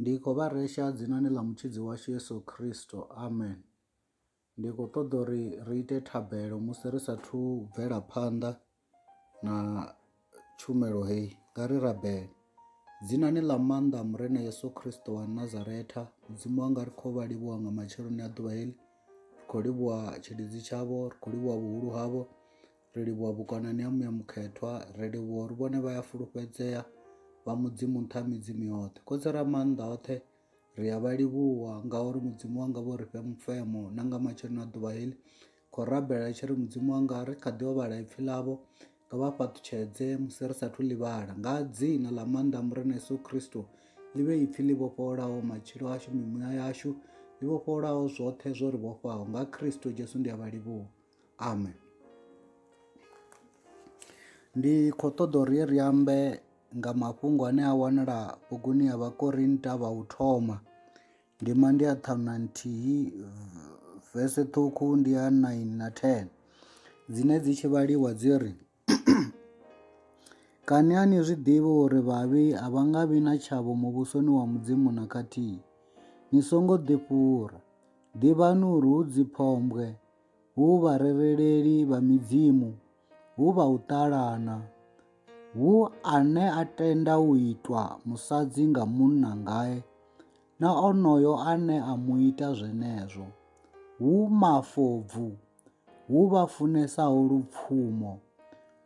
Ndi khou vha resha dzinani ḽa Mutshidzi washu Yesu Kristo. Amen. Ndi khou ṱoḓa uri ri ite thabelo musi ri sathu bvela phanḓa na tshumelo heyi. Nga ri rabele. Dzinani ḽa maanḓa a Murena Yesu Kristo wa Nazaretha, Mudzimu wanga ri khou vha livhuwa nga matsheloni a ḓuvha heḽi. Ri khou livhuwa tshilidzi tshavho, ri khou livhuwa vhuhulu havho, Ri livhuwa vhukonani ha Muya Mukhethwa, ri livhuwa uri vhone vha ya fulufhedzea, vha Mudzimu nṱha ha midzimu yoṱhe. Khotsi ra maanḓa oṱhe, ri a vha livhuwa ngauri Mudzimu wanga vho ri fhe mufemo na nga matsheloni a ḓuvha heḽi. Khou rabela tshi ri Mudzimu wanga ri kha ḓi vhala ipfi ḽavho, nga vha fhaṱutshedze musi ri sathu ḽi vhala. Nga dzina ḽa maanḓa a Murena Yesu Kristo, ḽi vhe ipfi ḽi vhofholaho matshilo ashu, mimuya yashu, ḽi vhofholaho zwoṱhe zwo ri vhofhaho. Nga Kristo Jesu ndi a vha livhuwa. Amen. Ndi khou ṱoḓa uri ri ambe nga mafhungo ane a wanala buguni ya Vhakorinta vha u thoma. Ndima ndi ya ṱhanu na nthihi vese ṱhukhu ndi ya 9 na 10 dzine dzi tshi vhaliwa dzi ri. Kani a ni zwi ḓivhi uri vhavhi a vha nga vhi na tshavho Muvhusoni wa Mudzimu na khathihi? Ni songo ḓifhura. Ḓivhani uri hu dziphombwe, hu vharereleli vha midzimu, hu vha u ṱalana, hu ane a tenda u itwa musadzi nga munna ngae na onoyo ane a mu ita zwenezwo, hu mafobvu, hu vha funesaho lupfumo,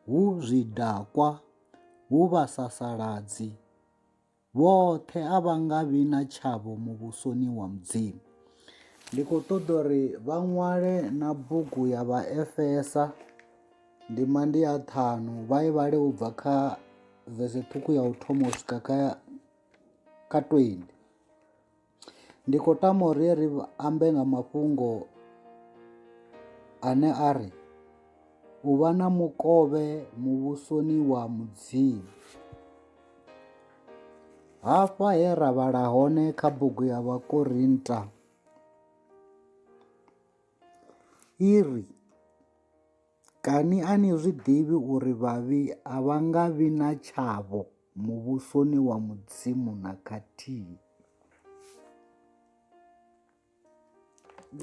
hu zwidakwa, hu vhasasaladzi, vhoṱhe a vha nga vhi na tshavho muvhusoni wa Mudzimu. Ndi khou ṱoḓa uri vha ṅwale na bugu ya Vhaefesa ndima ndi ya ṱhanu vha i vhale u bva kha vese ṱhukhu ya u thoma u swika kha kha 20. Ndi khou tama uri ri ambe nga mafhungo ane a ri u vha na mukovhe muvhusoni wa Mudzimu. Hafha he ra vhala hone kha bugu ya Vhakorinta i ri. Kani a ni zwi ḓivhi uri vhavhi a vha nga vhi na tshavho muvhusoni wa Mudzimu na khathihi?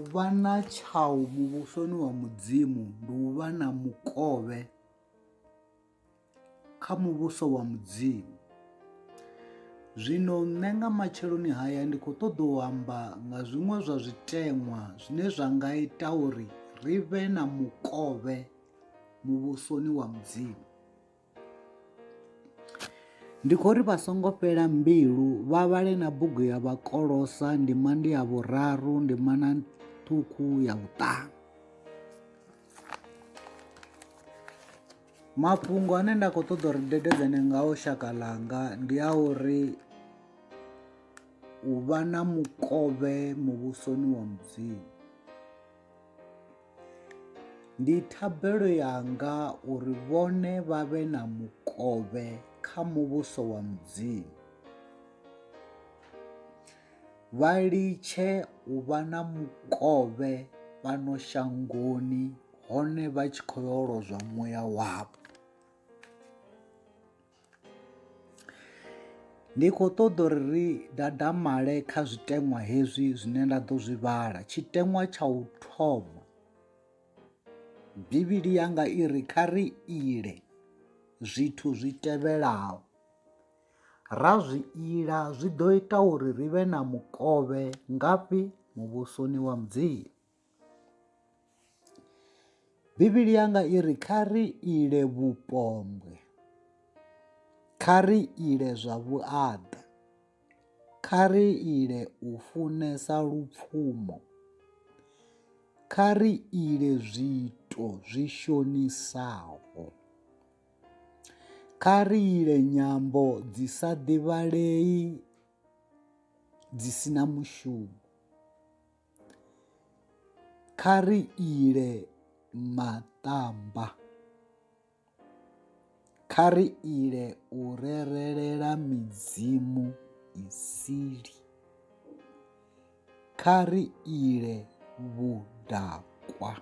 U vha na tshaho muvhusoni wa Mudzimu ndi u vha na mukovhe. kha muvhuso wa Mudzimu. Zwino nṋe nga matsheloni haya ndi khou ṱoḓa u amba nga zwiṅwe zwa zwiteṅwa zwine zwa nga ita uri ri vhe na mukovhe muvhusoni wa Mudzimu. Ndi khou ri vha songo fhela mbilu vha vhale na bugu ya vhakolosa ndima ndi ya vhuraru ndima na ṱhukhu ya vhuṱanu. mafhungo ane nda khou ṱoḓa uri dededzane ngao shaka ḽanga ndi a uri u vha na mukovhe muvhusoni wa mudzimu ndi thabelo yanga uri vhone vha vhe na mukovhe kha muvhuso wa mudzimu vha litshe u vha na mukovhe fhano shangoni hone vha tshi khou yo lozwa muya wavho. Ndi khou ṱoḓa uri ri dadamale kha zwiteṅwa hezwi zwine nda ḓo zwi vhala, tshiteṅwa tsha u thoma Bivhili yanga i ri kha ri ile zwithu zwi tevhelaho. Ra zwi ila zwi ḓo ita uri ri vhe na mukovhe ngafhi Muvhusoni wa Mudzimu? Bivhili yanga i ri kha ri ile vhupombwe, kha ri ile zwa vhuaḓa, kha ri ile u funesa lupfumo, kha ri ile zwiito zwi shonisaho. Kha ri ile nyambo dzi sa ḓivhalei dzi si na mushumo. Kha ri ile maṱamba. Kha ri ile u rerelela midzimu isili. Kha ri ile vhudakwa.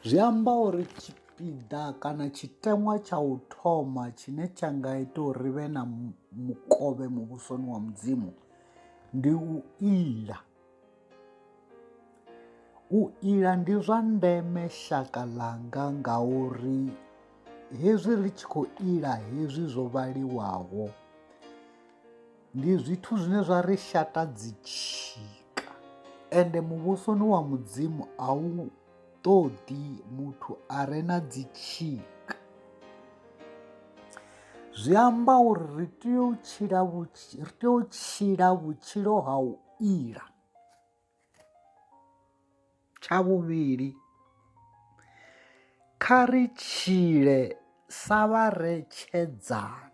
Zwi amba uri tshipiḓa kana tshiteṅwa tsha u thoma tshine tsha nga ita uri ri vhe na mukovhe muvhusoni wa mudzimu ndi u ila u ila ndi zwa ndeme shaka ḽanga ngauri hezwi ri tshi khou ila hezwi zwo vhaliwaho ndi zwithu zwine zwa ri shata dzitshika ende muvhusoni wa mudzimu a u ṱoḓi muthu a re na dzitshika zwi amba uri ri tea u tshila ri tea u tshila vhutshilo ha u ila Tsha vhuvhili, kha ri tshile sa vharetshedzani.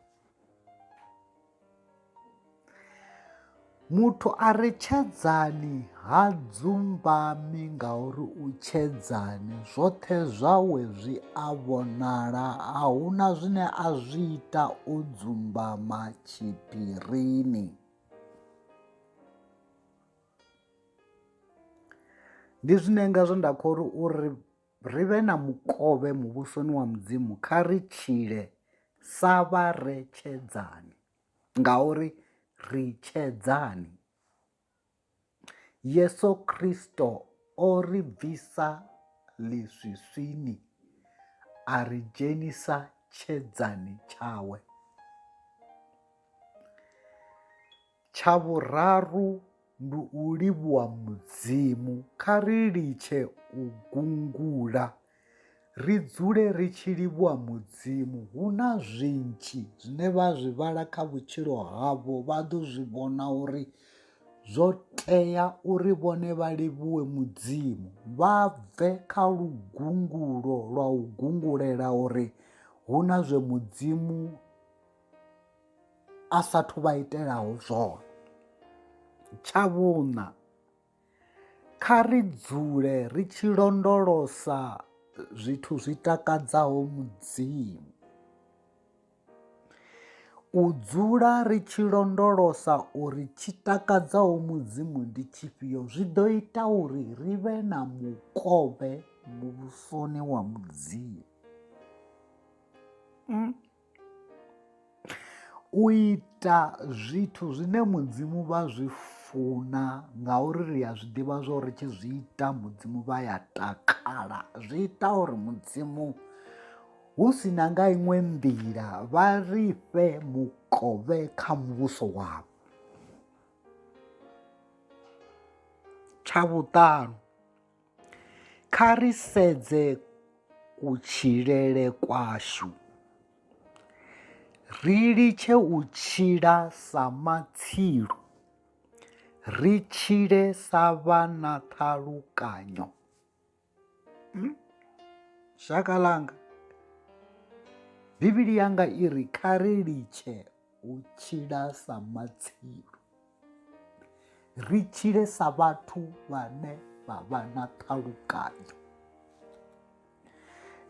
Muthu a re tshedzani ha dzumbami ngauri u tshedzani, zwoṱhe zwawe zwi a vhonala, a hu na zwine a zwi ita o dzumbama tshiphirini. Ndi zwine nga zwe nda kho ri uri ri vhe na mukovhe muvhusoni wa mudzimu kha ri tshile sa vha re tshedzani ngauri ri tshedzani Yeso Khristo o ri bvisa ḽiswiswini a ri dzhenisa tshedzani tshawe. Tsha vhuraru ndi u livhuwa Mudzimu. Kha ri litshe u gungula, ri dzule ri tshi livhuwa Mudzimu. Hu na zwinzhi zwine vha zwi vhala kha vhutshilo havho, vha ḓo zwi vhona uri zwo tea uri vhone vha livhuwe Mudzimu. Vha bve kha lugungulo lwa u gungulela uri hu na zwe Mudzimu. a sa thu vha itelaho zwone. Tsha vhuṋa, kha ri dzule ri tshi londolosa zwithu zwi takadzaho Mudzimu. U dzula ri tshi londolosa uri tshi takadzaho Mudzimu ndi tshifhio zwi ḓo ita uri ri vhe na mukovhe muvhusoni wa Mudzimu. Mm. u ita zwithu zwine mudzimu vha zwi funa ngauri ri a zwi ḓivha zwa uri tshi zwi ita mudzimu vha ya takala zwi ita uri mudzimu hu si na nga iṅwe nḓila vha ri fhe mukovhe kha muvhuso wavho tsha vhuṱanu Kha ri sedze kutshilele kwashu. Ri litshe u tshila sa matsilu, ri tshile sa vha na ṱhalukanyo. Hmm? Shaka langa, Bivhili yanga i ri kha ri litshe u tshila sa matsilu. ri tshile sa vhathu vhane vha vha na ṱhalukanyo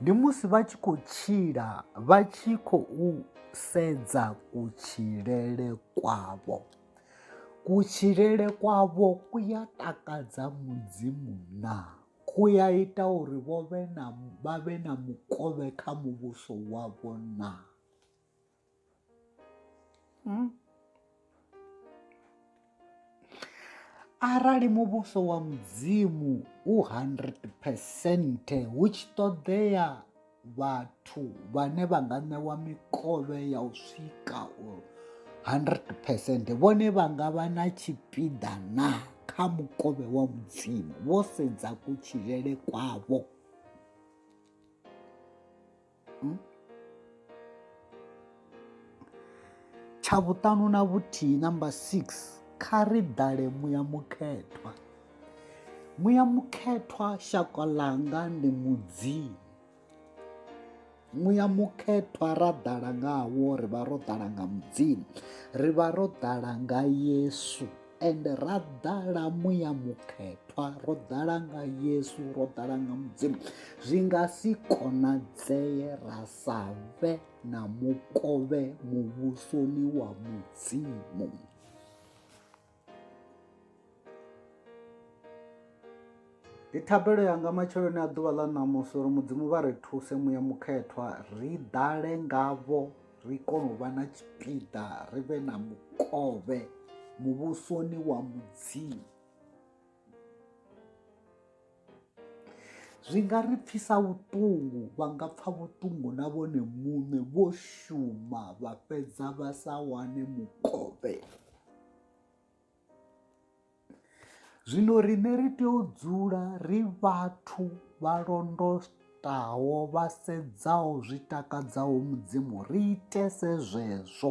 ndi musi vha tshi khou tshila vha tshi khou sedza kutshilele kwavho kutshilele kwavho ku ya takadza mudzimu na ku ya ita uri vho vhe na vha vhe na mukovhe kha muvhuso wavho na Hmm? arali muvhuso wa mudzimu u 100 percent hu tshi ṱoḓea vhathu vhane vha nga ṋewa mikovhe ya u swika u 100 percent vhone vha nga vha na tshipiḓa na kha mukovhe wa mudzimu vho sedza kutshilele kwavho hmm? tsha vhuṱanu na vhuthihi number six kha ri dale muya mukhethwa muya mukhethwa shaka ḽanga ndi mudzimu muya mukhethwa ra ḓala ngawo ri vha ro ḓala nga mudzimu ri vha ro ḓala nga yesu and ra ḓala muya mukhethwa ro ḓala nga yesu ro ḓala nga mudzimu zwi nga si konadzeye ra sa vhe na mukovhe muvhusoni wa mudzimu Ndi thabelo yanga matsheloni a ḓuvha ḽa ṋamusi uri mudzimu vha ri thuse muya mukhethwa ri ḓale ngavho ri kone u vha na tshipiḓa ri vhe na mukovhe muvhusoni wa mudzimu zwi nga ri pfisa vhuṱungu vha nga pfa vhuṱungu na vhone muṋe vho shuma vha fhedza vha sa wane mukovhe zwino riṋe ri tea u dzula ri vhathu vha londotaho vha sedzaho zwi takadzaho mudzimu ri itese zwezwo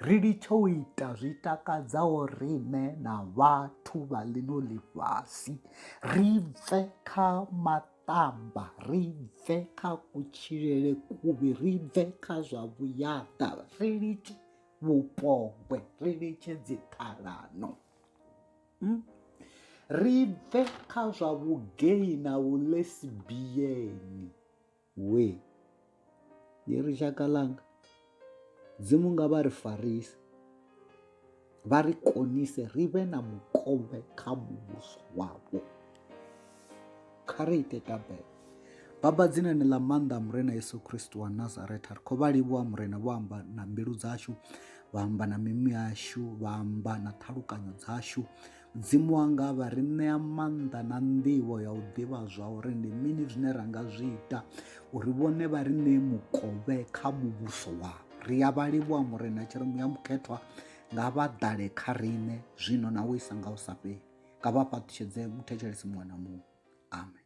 ri litshe u ita zwi takadzaho riṋe na vhathu vha ḽino ḽifhasi ri bve kha maṱamba ri bve kha kutshilele kuvhi ri bve kha zwa vhuyaḓa ri litshe vhupogwe ri litshe dziṱhalano hmm? ri bve kha zwa vhugei na vhulesibiyeni we ye ri shaka langa dzimu nga vha ri farise vha ri konise ri vhe na mukovhe kha muvhuso wavho kha ri ite tabelo baba dzinani ḽa maanḓa murena yesu kristu wa nazareta ri khou vha livhuwa murena vho amba na mbilu dzashu vha amba na mimu yashu vha amba na ṱhalukanyo dzashu mudzimu wanga vha ri ṋea maanḓa na nḓivho ya u ḓivha zwa uri ndi mini zwine ra nga zwi ita uri vhone vha ri ṋee mukovhe kha muvhuso wavho ri ya vha livhuwa murena tshiremu ya mukhethwa nga vha ḓale kha riṋe zwino na u isa nga u sa fheli nga vha fhaṱutshedze muthetshelesi muṅwe na muṅwe amen.